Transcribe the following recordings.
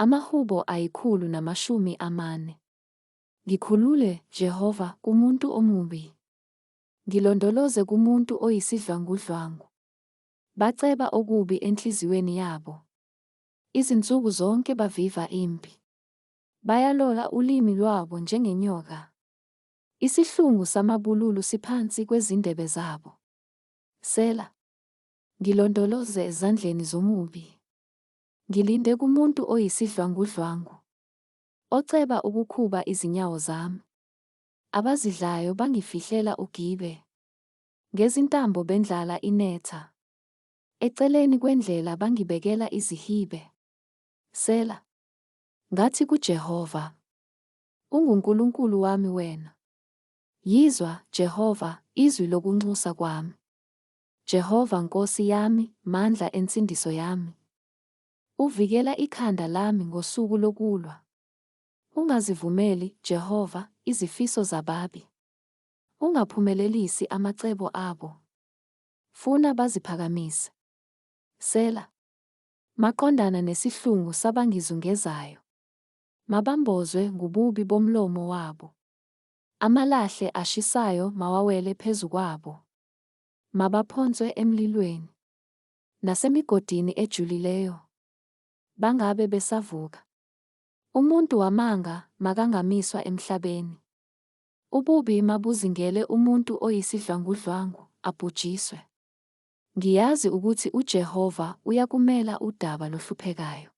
Amahubo ayikhulu namashumi amane. Ngikhulule, Jehova, kumuntu omubi. Ngilondoloze kumuntu oyisidlwangudlwangu. Baceba okubi enhliziyweni yabo. Izinsuku zonke baviva impi. Bayalola ulimi lwabo njengenyoka. Isihlungu samabululu siphansi kwezindebe zabo. Sela. Ngilondoloze ezandleni zomubi. Ngilinde kumuntu oyisidlwangudlwangu, oceba ukukhuba izinyawo zami. Abazidlayo bangifihlela ugibe, ngezintambo bendlala inetha. Eceleni kwendlela bangibekela izihibe. Sela. Ngathi kuJehova, UnguNkulunkulu wami wena. Yizwa, Jehova, izwi lokunxusa kwami. Jehova Nkosi yami, mandla ensindiso yami. Uvikela ikhanda lami ngosuku lokulwa. Ungazivumeli, Jehova, izifiso zababi. Ungaphumelelisi amacebo abo. Funa baziphakamise. Sela. Maqondana nesihlungu sabangizungezayo. Mabambozwe ngububi bomlomo wabo. Amalahle ashisayo mawawele phezu kwabo. Mabaphonswe emlilweni. Nasemigodini ejulileyo. Bangabe besavuka. Umuntu wamanga makangamiswa emhlabeni. Ububi mabuzingele umuntu oyisidlwangudlwangu, abhujiswe. Ngiyazi ukuthi uJehova uyakumela udaba lohluphekayo.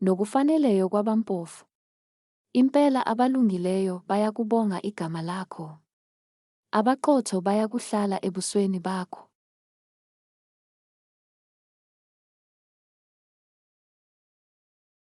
Nokufaneleyo kwabampofu. Impela abalungileyo bayakubonga igama lakho. Abaqotho bayakuhlala ebusweni bakho.